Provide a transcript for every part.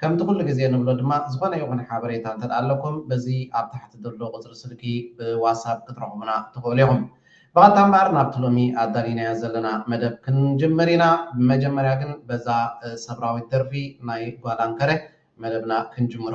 ከምቲ ኩሉ ግዜ ንብሎ ድማ ዝኾነ ይኹን ሓበሬታ እንተ ኣለኩም በዚ ኣብ ታሕቲ ዘሎ ቁጽሪ ስልኪ ብዋሳብ ክትረኽቡና ትኽእሉ ኢኹም። ብቐጥታ እምበኣር ናብቲ ሎሚ ኣዳሊናዮ ዘለና መደብ ክንጅምር ኢና። ብመጀመርያ ግን በዛ ሰብራዊት ደርፊ ናይ ጓል ኣንከረ መደብና ክንጅምሮ።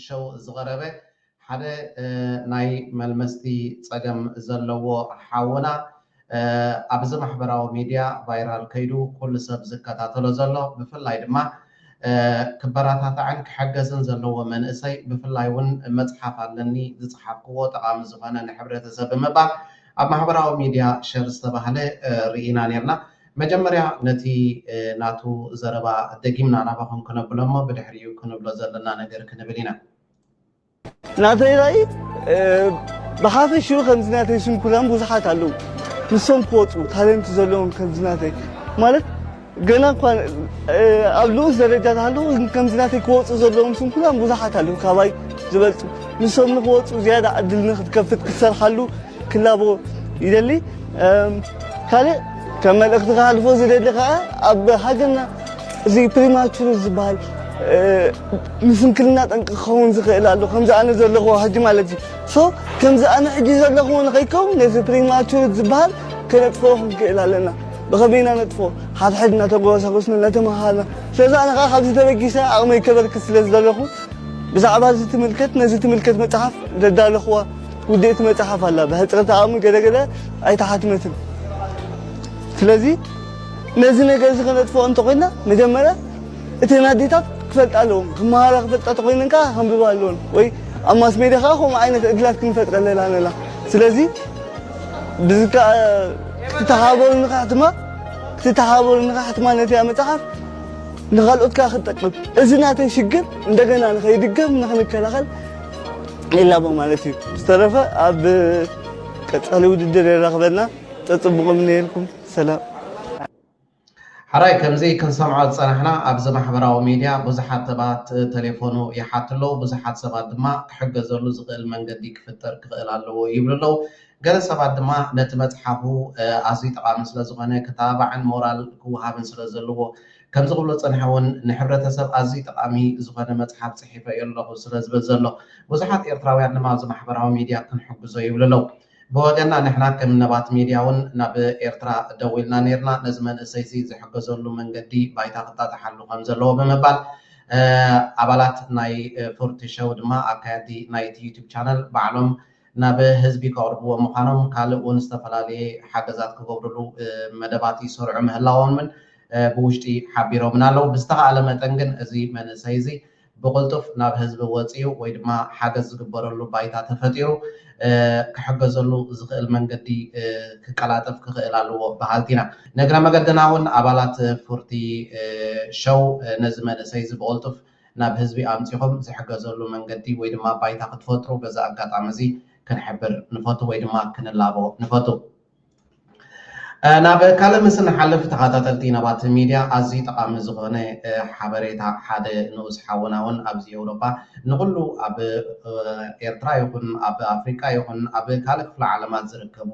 ሸው ዝቐረበ ሓደ ናይ መልመስቲ ጸገም ዘለዎ ሓውና ኣብዚ ማሕበራዊ ሚድያ ቫይራል ከይዱ ኩሉ ሰብ ዝከታተሎ ዘሎ ብፍላይ ድማ ክበራታታዕን ክሕገዝን ዘለዎ መንእሰይ ብፍላይ ውን መጽሓፍ ኣለኒ ዝጸሓፍክዎ ጠቓሚ ዝኾነ ንሕብረተሰብ ብምባል ኣብ ማሕበራዊ ሚድያ ሸር ዝተባህለ ርኢና ኔርና መጀመርያ ነቲ ናቱ ዘረባ ደጊምና ናባኹም ክነብሎ እሞ ብድሕሪኡ ክንብሎ ዘለና ነገር ክንብል ኢና። ናተይ ራኢ ብሓፈሽኡ ከምዚ ናተይ ስንኩላን ብዙሓት ኣለዉ ንሶም ክወፁ ታለንት ዘለዎም ከምዚ ናተይ ማለት ገና እኳ ኣብ ልኡስ ደረጃ ተሃለዉ ከምዚ ናተይ ክወፁ ዘለዎም ስንኩላን ብዙሓት ኣለዉ ካባይ ዝበልፁ ንሶም ንክወፁ ዝያዳ ዕድል ንክትከፍት ክትሰርሓሉ ክላቦ ይደሊ ካልእ ከም መልእኽቲ ክሃልፎ ዝደሊ ከዓ ኣብ ሃገርና እዚ ፕሪማቹር ዝበሃል ንስንክልና ጠንቂ ክኸውን ዝኽእል ኣሎ ከምዚ ኣነ ዘለኹዎ ሕጂ ማለት እዩ ሶ ከምዚ ኣነ ሕጂ ዘለኹዎ ንኸይከውን ነዚ ፕሪማቹር ዝበሃል ከነጥፍኦ ክንክእል ኣለና ብኸመይ ኢና ነጥፍኦ ሓድሕድ እናተጓሳጎስና እናተመሃርና ስለዚ ኣነ ከዓ ካብዚ ተበጊሰ ዓቕመይ ከበርክት ስለ ዝደለኹ ብዛዕባ እዚ ትምልከት ነዚ ትምልከት መፅሓፍ ዘዳለኹዋ ውድእቲ መጽሓፍ ኣላ ብሕጽረት ኣቕሚ ገለ ገለ ኣይተሓትመትን ስለዚ ነዚ ነገር እዚ ከነጥፍኦ እንተኾይንና መጀመርያ እተን ኣዴታት ክፈልጣ ኣለዎም ክመሃራ ክፈልጣ ተኮይነን ከዓ ከንብባ ኣለዎን ወይ ኣብ ማስ ሜድያ ከዓ ከምኡ ዓይነት ዕድላት ክንፈጥረለን ኣለና ስለዚ ብዝከዓ ክትተሓባበሩ ንካሕትማ ክትተሓባበሩ ንካሕትማ ነቲያ መፅሓፍ ንካልኦት ከዓ ክትጠቅም እዚ ናተን ሽግር እንደገና ንከይድገም ንክንከላኸል ዒላማ ማለት እዩ ዝተረፈ ኣብ ቀፃሊ ውድድር የራኽበና ፀፅቡቕም ነይርኩም ሰላም ሓራይ ከምዚ ክንሰምዖ ዝጸናሕና ኣብዚ ማሕበራዊ ሚድያ ብዙሓት ሰባት ተሌፎኑ ይሓቱ ኣለዉ ብዙሓት ሰባት ድማ ክሕገዘሉ ዝኽእል መንገዲ ክፍጠር ክኽእል ኣለዎ ይብሉ ኣለዉ ገለ ሰባት ድማ ነቲ መጽሓፉ ኣዝዩ ጠቓሚ ስለ ዝኾነ ክተባባዕን ሞራል ክወሃብን ስለ ዘለዎ ከምዚ ክብሎ ዝጸንሐ ውን ንሕብረተሰብ ኣዝዩ ጠቓሚ ዝኾነ መጽሓፍ ጽሒፈ እዮ ኣለኹ ስለ ዝብል ዘሎ ብዙሓት ኤርትራውያን ድማ ኣብዚ ማሕበራዊ ሚድያ ክንሕግዞ ይብሉ ኣለው። ብወገንና ንሕና ከም ነባት ሚድያ ውን ናብ ኤርትራ ደዊልና ኔርና ነዚ መንእሰይዚ ዝሕገዘሉ መንገዲ ባይታ ክጣጥሓሉ ከም ዘለዎ ብምባል ኣባላት ናይ ፉርቲ ሸው ድማ ኣካየድቲ ናይቲ ዩቱብ ቻነል ባዕሎም ናብ ህዝቢ ከቕርብዎ ምዃኖም ካልእ እውን ዝተፈላለየ ሓገዛት ክገብርሉ መደባት ይሰርዑ ምህላዎምን ብውሽጢ ሓቢሮምና ኣለው። ብዝተኻእለ መጠን ግን እዚ መንእሰይ እዚ ብቕልጡፍ ናብ ህዝቢ ወፂኡ ወይ ድማ ሓገዝ ዝግበረሉ ባይታ ተፈጢሩ ክሕገዘሉ ዝኽእል መንገዲ ክቀላጠፍ ክኽእል ኣለዎ በሃልቲ ኢና። ንእግረ መገድና እውን ኣባላት ፉርቲ ሸው ነዚ መንእሰይ እዚ ብቕልጡፍ ናብ ህዝቢ ኣምጺኹም ዝሕገዘሉ መንገዲ ወይ ድማ ባይታ ክትፈጥሩ በዚ ኣጋጣሚ እዚ ክንሕብር ንፈቱ ወይ ድማ ክንላቦ ንፈቱ። ናብ ካልእ ምስ እንሓልፍ ተኻታተልቲ ናባቲ ሚድያ ኣዝዩ ጠቓሚ ዝኾነ ሓበሬታ ሓደ ንኡስ ሓውና ውን ኣብዚ ኤውሮጳ ንኹሉ ኣብ ኤርትራ ይኹን ኣብ ኣፍሪቃ ይኹን ኣብ ካልእ ክፍለ ዓለማት ዝርከቡ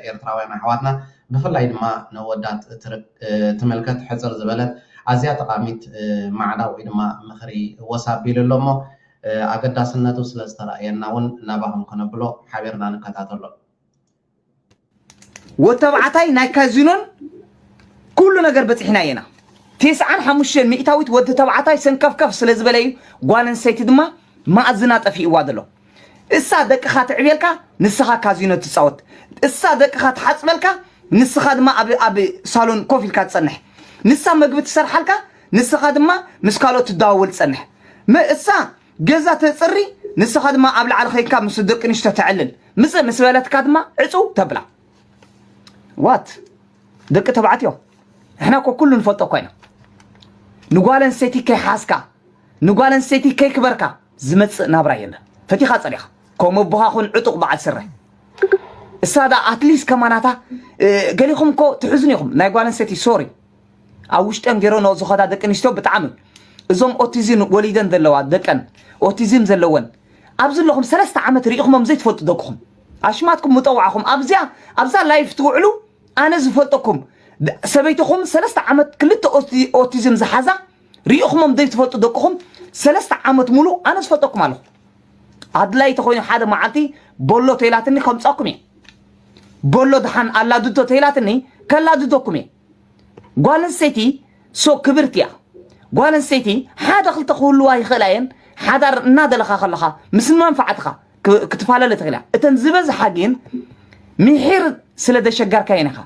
ኤርትራውያን ኣሕዋትና ብፍላይ ድማ ንኣወዳት እትምልከት ሕጽር ዝበለት ኣዝያ ጠቓሚት ማዕዳ ወይ ድማ ምኽሪ ወስ ኣቢሉ ኣሎ እሞ ኣገዳስነቱ ስለ ዝተራእየና እውን ናባኹም ክነብሎ ሓቢርና ንከታተሎ። ወድተባዕታይ ናይ ካዚኖን ኩሉ ነገር በጺሕናዮ ኢና። ቴስዓን ሓሙሽተን ሚእታዊት ወድተባዕታይ ሰንከፍከፍ ስለ ዝበለ እዩ ጓል ኣንስተይቲ ድማ ማእዝና ጠፊእዋ ዘሎ። እሳ ደቅኻ ትዕብየልካ ንስኻ ካዚኖ ትጻወት እሳ ደቅኻ ትሓጽበልካ ንስኻ ድማ ኣብ ኣብ ሳሎን ኮፍ ኢልካ ትጸንሕ ንሳ መግቢ ትሰርሓልካ ንስኻ ድማ ምስ ካልኦት ትደዋወል ትጸንሕ መ እሳ ገዛ ተጽሪ ንስኻ ድማ ኣብ ላዕሊ ከይንካ ምስ ደቂ ንሽቶ ተዕልል ምጽእ ምስ በለትካ ድማ ዕጹው ተብላ ዋት ደቂ ተባዕትዮ ንሕና እኮ ኩሉ ንፈልጦ እኳ ኢና ንጓል ኣንስተይቲ ከይሓዝካ ንጓል ኣንስተይቲ ከይክበርካ ዝመጽእ ናብራ የለን ፈቲኻ ጸሊኻ ከምኡ ኣቦኻ ኩን ዕጡቕ በዓል ስረ እሳ ዳ ኣትሊስ ከማናታ ገሊኹም እኮ ትሕዝኑ ኢኹም ናይ ጓል ኣንስተይቲ ሶሪ ኣብ ውሽጠን ገይረንኦ ዝኸዳ ደቂ ኣንስትዮ ብጣዕሚ እዞም ኦቲዝም ወሊደን ዘለዋ ደቀን ኦቲዝም ዘለወን ኣብዚ ኣለኹም ሰለስተ ዓመት ርኢኹሞም ዘይትፈልጡ ደቅኹም ኣሽማትኩም ምጠዋዕኹም ኣብዚኣ ኣብዛ ላይፍ ትውዕሉ ኣነ ዝፈልጠኩም ሰበይትኹም ሰለስተ ዓመት ክልተ ኦቲዝም ዝሓዛ ሪኢኹሞም ዘይትፈልጡ ደቅኹም ሰለስተ ዓመት ሙሉእ ኣነ ዝፈልጠኩም ኣለኹ ኣድላይ ተኮይኑ ሓደ መዓልቲ ቦሎ ተይላትኒ ከምፃኩም እየ ቦሎ ድሓን ኣላድዶ ተይላትኒ ከላድደኩም እየ ጓል ኣንስተይቲ ሶ ክብርቲ እያ ጓል ኣንስተይቲ ሓደ ክልተ ክህልዋ ይኽእላ እየን ሓዳር እናደለኻ ከለኻ ምስ መንፋዕትኻ ክትፋለለ ትኽእል እያ እተን ዝበዝሓ ግን ምሒር ስለ ዘሸገርካየን ኢኻ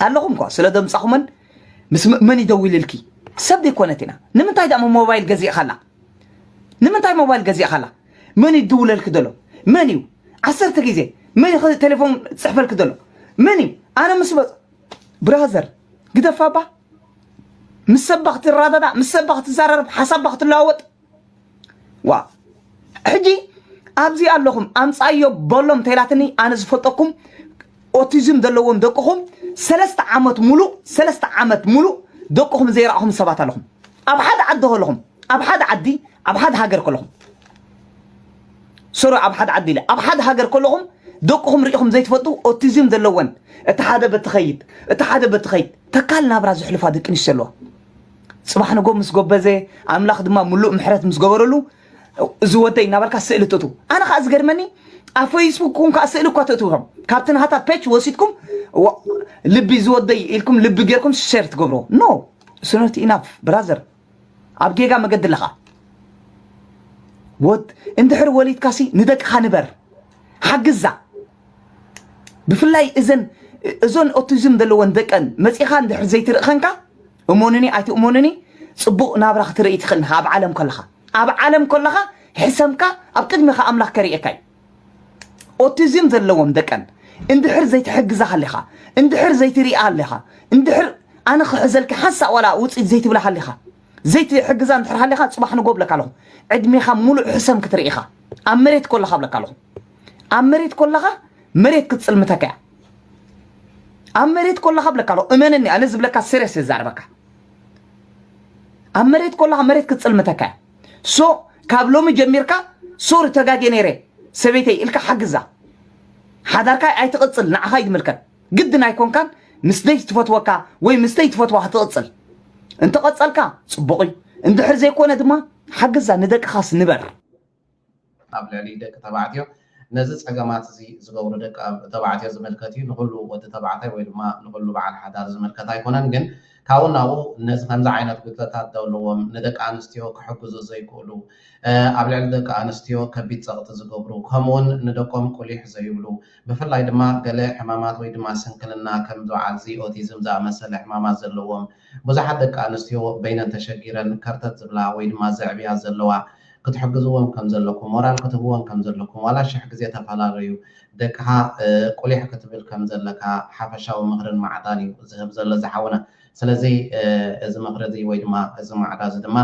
ኣለኹም እኳ ስለ ዘምጻኹመን ምስ መን ይደውልልኪ ሰብ ዘይኮነት ኢና ንምንታይ ዳሞ ሞባይል ገዚእኻላ ንምንታይ ሞባይል ገዚእኻላ መን እዩ ድውለልኪ ዘሎ መን እዩ ዓሰርተ ግዜ መን እዩ ቴሌፎን ዝፅሕፈልኪ ዘሎ መን እዩ ኣነ ምስ በፅ ብራዘር ግደፋባ ምስ ሰባ ክትረዳዳ ምስ ሰባ ክትዘራረብ ሓሳባ ክትለዋወጥ ዋእ ሕጂ ኣብዚ ኣለኹም ኣምጻዮ በሎም ተይላትኒ ኣነ ዝፈልጠኩም ኦቲዝም ዘለዎም ደቅኹም ሰለስተ ዓመት ሙሉእ ሰለስተ ዓመት ሙሉእ ደቅኹም ዘይረኣኹም ሰባት ኣለኹም ኣብ ሓደ ዓዲ ከለኹም ኣብ ሓደ ዓዲ ኣብ ሓደ ሃገር ከለኹም ሶሪ ኣብ ሓደ ዓዲ ኢለ ኣብ ሓደ ሃገር ከለኹም ደቅኹም ርኢኹም ዘይትፈልጡ ኦቲዝም ዘለወን እቲ ሓደ በቲ ኸይድ እቲ ሓደ በቲ ኸይድ ተካል ናብራ ዝሕልፋ ደቂ ኣንስትዮ ኣለዋ ጽባሕ ንጎ ምስ ጎበዘ ኣምላኽ ድማ ምሉእ ምሕረት ምስ ገበረሉ እዚ ወደይ እናበልካ ስእሊ ትእትው ኣነ ከዓ ዝገድመኒ ኣብ ፈይስቡክኩም ከዓ ስእሊ እኳ ትእትውኹም ካብቲ ናሃታ ፔች ወሲድኩም ልቢ ዝወደይ ኢልኩም ልቢ ጌርኩም ሸር ትገብርዎ ኖ ስኖት ኢናፍ ብራዘር ኣብ ጌጋ መገዲ ኣለኻ ወድ እንድሕር ወሊድካሲ ንደቅኻ ንበር ሓግዛ ብፍላይ እዘን እዞን ኦቲዝም ዘለወን ደቀን መፂኻ እንድሕር ዘይትርእኸንካ እመኑኒ ኣይትእመኑኒ ጽቡቕ ናብራ ክትርኢ ትኽእል ኢኻ ኣብ ዓለም ከለኻ ኣብ ዓለም ከለኻ ሕሰምካ ኣብ ቅድሜኻ ኣምላኽ ከርእየካ እዩ ኦቲዝም ዘለዎም ደቀን እንድሕር ዘይትሕግዛ ሃሊኻ እንድሕር ዘይትሪኣ ሃሊኻ እንድሕር ኣነ ክሕዘልኪ ሓንሳእ ዋላ ውፅኢት ዘይትብላ ሃሊኻ ዘይትሕግዛ እንድሕር ሃሊኻ ፅባሕ ንጎ ብለካ ኣለኹ ዕድሜኻ ሙሉእ ሕሰም ክትርኢ ኢኻ ኣብ መሬት ከለኻ ብለካ ኣለኹ ኣብ መሬት ኮለኻ መሬት ክትፅልምተካ እያ ኣብ መሬት ኮለኻ ብለካ ኣሎ እመነኒ ኣነ ዝብለካ ስሬስ ዝዛረበካ ኣብ መሬት ኮለኻ መሬት ክትፅልምተካ እያ ሶ ካብ ሎሚ ጀሚርካ ሶሪ ተጋጌ ነይረ ሰበይተይ ኢልካ ሓግዛ ሓዳርካ ኣይትቕፅል ንዓኻ ይምልከት ግድን ኣይኮንካን ምስ ደይ ትፈትወካ ወይ ምስ ደይ ትፈትዋ ክትቕፅል እንተቐፀልካ ፅቡቕ እዩ እንድሕር ዘይኮነ ድማ ሓግዛ ንደቅኻስ ንበር ኣብ ልዕሊ ደቂ ተባዕትዮ ነዚ ጸገማት እዚ ዝገብሩ ደቂ ተባዕትዮ ዝምልከት እዩ። ንኹሉ ወዲ ተባዕታይ ወይ ድማ ንኹሉ በዓል ሓዳር ዝምልከት ኣይኮነን። ግን ካብኡ ናብኡ ነዚ ከምዚ ዓይነት ጉድለታት ዘለዎም ንደቂ ኣንስትዮ ክሕግዙ ዘይክእሉ፣ ኣብ ልዕሊ ደቂ ኣንስትዮ ከቢድ ጸቕጢ ዝገብሩ፣ ከምኡውን ንደቆም ቁሊሕ ዘይብሉ፣ ብፍላይ ድማ ገለ ሕማማት ወይ ድማ ስንክልና ከም በዓልዚ ኦቲዝም ዝኣመሰለ ሕማማት ዘለዎም ብዙሓት ደቂ ኣንስትዮ በይነን ተሸጊረን ከርተት ዝብላ ወይ ድማ ዘዕብያ ዘለዋ ክትሕግዝወን ከም ዘለኩም ሞራል ክትህብወን ከም ዘለኩም ዋላ ሽሕ ግዜ ተፈላለዩ ደቅካ ቁሊሕ ክትብል ከም ዘለካ ሓፈሻዊ ምክርን ማዕዳን እዩ ዝህብ ዘሎ እዚ ሓውና ስለዚ እዚ ምክሪ እዚ ወይ ድማ እዚ ማዕዳ እዚ ድማ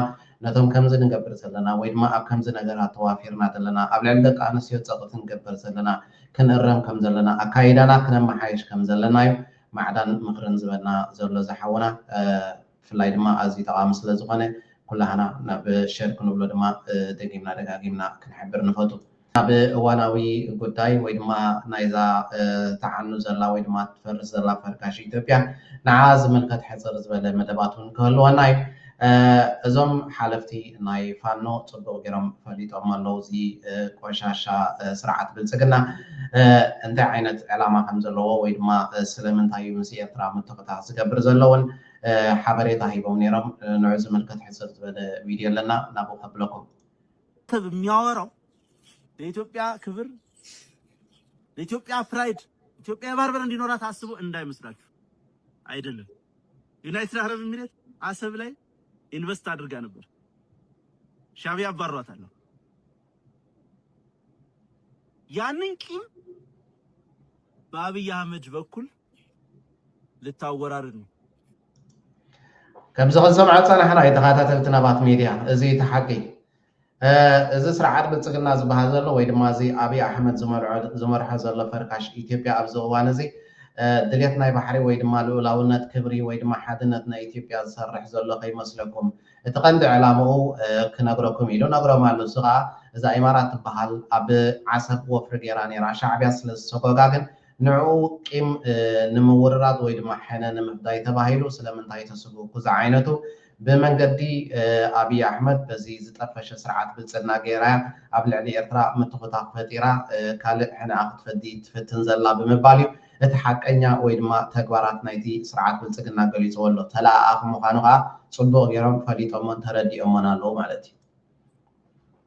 ነቶም ከምዚ ንገብር ዘለና ወይ ድማ ኣብ ከምዚ ነገራት ተዋፊርና ዘለና ኣብ ልዕሊ ደቂ ኣንስትዮ ጸቅቲ ንገበር ዘለና ክንእረም ከም ዘለና ኣካይዳና ክነመሓይሽ ከም ዘለና እዩ ማዕዳን ምኽርን ዝበና ዘሎ ዝሓውና ብፍላይ ድማ ኣዝዩ ጠቓሚ ስለ ዝኾነ ኩላህና ናብ ሸር ክንብሎ ድማ ደጊምና ደጋጊምና ክንሕብር ንፈቱ። ናብ እዋናዊ ጉዳይ ወይ ድማ ናይዛ ትዓኑ ዘላ ወይ ድማ ትፈርስ ዘላ ፈርካሽ ኢትዮጵያ ንዓኣ ዝምልከት ሕጽር ዝበለ መደባት ውን ክህልወና እዩ። እዞም ሓለፍቲ ናይ ፋኖ ጽቡቅ ጌሮም ፈሊጦሞ ኣለዉ እዚ ቆሻሻ ስርዓት ብልጽግና እንታይ ዓይነት ዕላማ ከም ዘለዎ ወይ ድማ ስለምንታይ እዩ ምስ ኤርትራ ምትክታክ ዝገብር ዘሎ ውን ሓበሬታ ሂቦም ኔሮም ንዑ ዝምልከት ሕጽር ዝበለ ቪድዮ ኣለና ናብኡ ከብለኩም። ሰብ የሚያወራው ለኢትዮጵያ ክብር ለኢትዮጵያ ፕራይድ ኢትዮጵያ የባርበር እንዲኖራት አስቦ እንዳይመስላችሁ አይደለም። ዩናይትድ ዓረብ ኢሚሬት ዓሰብ ላይ ኢንቨስት ኣድርጋ ነበር ሻዕብያ ኣባርሯት ኣሎ ያንን ቂም በአብይ አህመድ በኩል ልታወራርድ ነው። ከምዚ ክንሰምዓ ፀናሕና እዩ ተኸታተልቲ ናባት ሚድያ እዚ እቲ ሓቂ እዚ ስርዓት ብልፅግና ዝበሃል ዘሎ ወይ ድማ እዚ ኣብይ ኣሕመድ ዝመርዖ ዝመርሖ ዘሎ ፈርካሽ ኢትዮጵያ ኣብዚ እዋን እዚ ድሌት ናይ ባሕሪ ወይ ድማ ልኡላውነት ክብሪ ወይ ድማ ሓድነት ናይ ኢትዮጵያ ዝሰርሕ ዘሎ ከይመስለኩም እቲ ቀንዲ ዕላምኡ ክነግረኩም ኢሉ ነግሮም ኣሉ እዚ ከዓ እዛ ኢማራት ትበሃል ኣብ ዓሰብ ወፍሪ ገይራ ነይራ ሻዕቢያ ስለ ዝሰጎጋ ግን ንዕኡ ቂም ንምውርራድ ወይ ድማ ሕነ ንምፍዳይ ተባሂሉ ስለምንታይ ተስጉጉ ዝዓይነቱ ብመንገዲ ኣብይ ኣሕመድ በዚ ዝጠፈሸ ስርዓት ብልጽግና ገይራያ ኣብ ልዕሊ ኤርትራ ምትኹታኽ ፈጢራ ካልእ ሕነኣ ክትፈዲ ትፍትን ዘላ ብምባል እዩ እቲ ሓቀኛ ወይ ድማ ተግባራት ናይቲ ስርዓት ብልጽግና ገሊጽዎ ኣሎ ተለኣኣኺ ምዃኑ ከኣ ጽቡቕ ገይሮም ፈሊጦሞን ተረዲኦሞን ኣለዉ ማለት እዩ።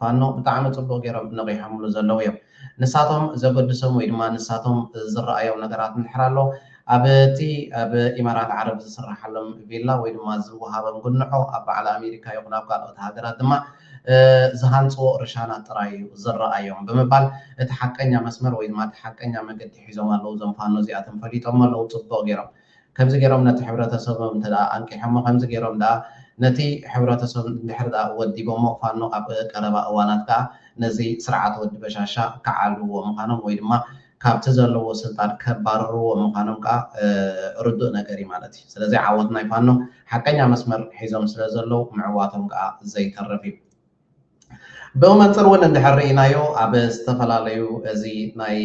ፋኖ ብጣዕሚ ጽቡቕ ጌሮም ነቒሖምሉ ዘለዉ እዮም። ንሳቶም ዘገድሶም ወይ ድማ ንሳቶም ዝረኣዮም ነገራት እንድሕር ኣሎ፣ ኣብ'ቲ ኣብ ኢማራት ዓረብ ዝስረሓሎም ቪላ ወይ ድማ ዝወሃቦም ጉንዖ፣ ኣብ በዓል ኣሜሪካ ይኹን ኣብ ካልኦት ሃገራት ድማ ዝሃንጽዎ ርሻናት ጥራይ እዩ ዝረኣዮም ብምባል እቲ ሓቀኛ መስመር ወይ ድማ እቲ ሓቀኛ መገዲ ሒዞም ኣለዉ። እዞም ፋኖ እዚኣቶም ፈሊጦሞ ኣለዉ ጽቡቕ ጌሮም። ከምዚ ገይሮም ነቲ ሕብረተሰቦም እንተ ኣንቂሖሞ፣ ከምዚ ገይሮም ደኣ ነቲ ሕብረተሰብ እንድሕሪ ደኣ ወዲቦሞ፣ ፋኖ ኣብ ቀረባ እዋናት ከኣ ነዚ ስርዓት ወዲ በሻሻ ክዓልዉዎ ምዃኖም ወይ ድማ ካብቲ ዘለዎ ስልጣን ከባርርዎ ምዃኖም ከኣ ርዱእ ነገር እዩ ማለት እዩ። ስለዚ ዓወት ናይ ፋኖ ሓቀኛ መስመር ሒዞም ስለ ዘለዉ ምዕዋቶም ከኣ ዘይተርፍ እዩ። ብመንፅር እውን እንድሕር ርኢናዮ ኣብ ዝተፈላለዩ እዚ ናይ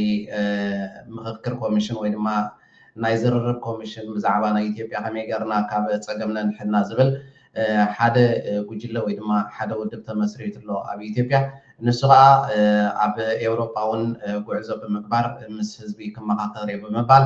ምኽክር ኮሚሽን ወይ ድማ ናይ ዝርርብ ኮሚሽን ብዛዕባ ናይ ኢትዮጵያ ከመይ ገርና ካብ ፀገም ነንሕድና ዝብል ሓደ ጉጅለ ወይ ድማ ሓደ ውድብ ተመስሪቱ ኣሎ ኣብ ኢትዮጵያ ንሱ ከዓ ኣብ ኤውሮጳ እውን ጉዕዞ ብምግባር ምስ ህዝቢ ክመኻኸር እየ ብምባል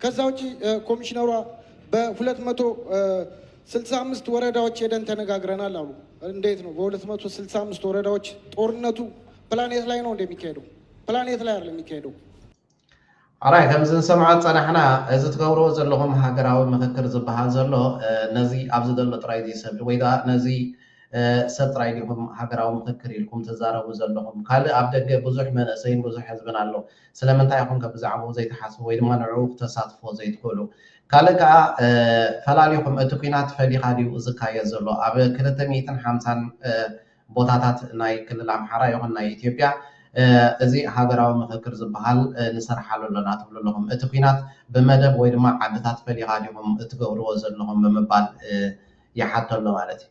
ከዛ ውጪ ኮሚሽነሯ በሁለት መቶ ስልሳ አምስት ወረዳዎች ሄደን ተነጋግረናል አሉ። እንዴት ነው በሁለት መቶ ስልሳ አምስት ወረዳዎች ጦርነቱ ፕላኔት ላይ ነው እንደሚካሄደው? ፕላኔት ላይ አይደለም የሚካሄደው። ኣራይ ከምዚ ንሰምዖ ዝፀናሕና እዚ ትገብርዎ ዘለኹም ሃገራዊ ምክክር ዝበሃል ዘሎ ነዚ ኣብዚ ዘሎ ጥራይ ዝይሰብ ወይ ከዓ ነዚ ሰብ ጥራይ ዲኹም ሃገራዊ ምክክር ኢልኩም ትዛረቡ ዘለኹም ካልእ ኣብ ደገ ብዙሕ መንእሰይን ብዙሕ ህዝብን ኣሎ ስለምንታይ ኢኹም ከ ብዛዕብኡ ዘይትሓስቡ ወይ ድማ ንዕኡ ክተሳትፍዎ ዘይትኽእሉ? ካልእ ከኣ ፈላሊኹም እቲ ኲናት ፈሊኻ ድዩ ዝካየድ ዘሎ? ኣብ ክልተ ሚእትን ሓምሳን ቦታታት ናይ ክልል ኣምሓራ ይኹን ናይ ኢትዮጵያ እዚ ሃገራዊ ምኽክር ዝበሃል ንሰርሓሉ ኣሎና ትብሉ ኣለኹም። እቲ ኲናት ብመደብ ወይ ድማ ዓድታት ፈሊኻ ዲኹም እትገብርዎ ዘለኹም ብምባል ይሓቶ ኣሎ ማለት እዩ።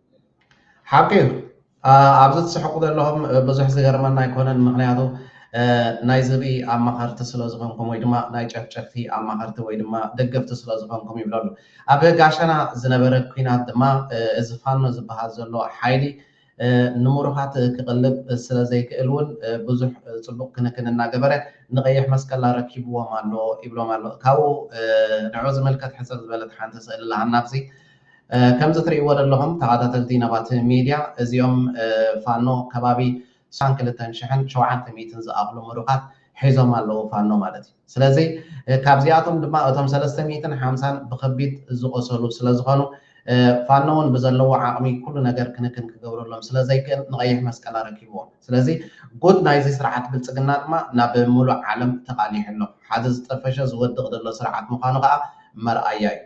ሓቂ እዩ ኣብዚ ትስሕቁ ዘለኹም ብዙሕ ዝገርመና ኣይኮነን ምክንያቱ ናይ ዝብኢ ኣማኸርቲ ስለ ዝኾንኩም ወይ ድማ ናይ ጨፍጨፍቲ ኣማኸርቲ ወይ ድማ ደገፍቲ ስለ ዝኾንኩም ይብለሉ ኣብ ጋሸና ዝነበረ ኩናት ድማ እዚ ፋኖ ዝበሃል ዘሎ ሓይሊ ንምሩኻት ክቕልብ ስለ ዘይክእል እውን ብዙሕ ፅቡቕ ክንክን እናገበረ ንቐይሕ መስቀል ኣረኪብዎም ኣሎ ይብሎም ኣሎ ካብኡ ንዑ ዝምልከት ሕፅር ዝበለት ሓንቲ ስእሊ ለሃና ኣብዚ ከምዚ ትሪእዎ ደለኹም ተኻታተልቲ ነባት ሚድያ እዚኦም ፋኖ ከባቢ ዕስራን ክልተን ሽሕን ሸውዓተ ሚእትን ዝኣኽሉ ምሩኻት ሒዞም ኣለዉ ፋኖ ማለት እዩ ስለዚ ካብዚኣቶም ድማ እቶም ሰለስተ ሚእትን ሓምሳን ብኸቢድ ዝቖሰሉ ስለ ዝኾኑ ፋኖ ውን ብዘለዎ ዓቕሚ ኩሉ ነገር ክንክን ክገብረሎም ስለ ዘይክእል ንቐይሕ መስቀል ኣረኪብዎ ስለዚ ጉድ ናይዚ ስርዓት ብልጽግና ድማ ናብ ምሉእ ዓለም ተቓሊሑ ኣሎ ሓደ ዝጠፈሸ ዝወድቕ ደሎ ስርዓት ምዃኑ ከኣ መርኣያ እዩ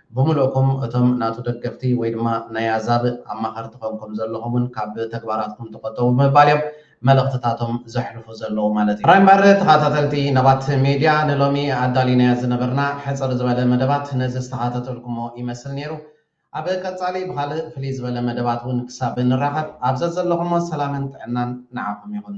ብምሉእኩም እቶም ናቱ ደገፍቲ ወይ ድማ ናይ ኣዛብእ ኣማኸርቲ ኮንኩም ዘለኹም'ውን ካብ ተግባራትኩም ተቆጠቡ ብምባል እዮም መልእኽትታቶም ዘሕልፉ ዘለዉ ማለት እዩ። ጥራይ እምበር ተኻታተልቲ ነባት ሜድያ ንሎሚ ኣዳሊናዮ ዝነበርና ሕጽር ዝበለ መደባት ነዚ ዝተኻተተልኩሞ ይመስል ነይሩ። ኣብ ቀጻሊ ብኻልእ ፍልይ ዝበለ መደባት እውን ክሳብ ንራኸብ ኣብ ዘዘለኹሞ ሰላምን ጥዕናን ንዓኹም ይኹን።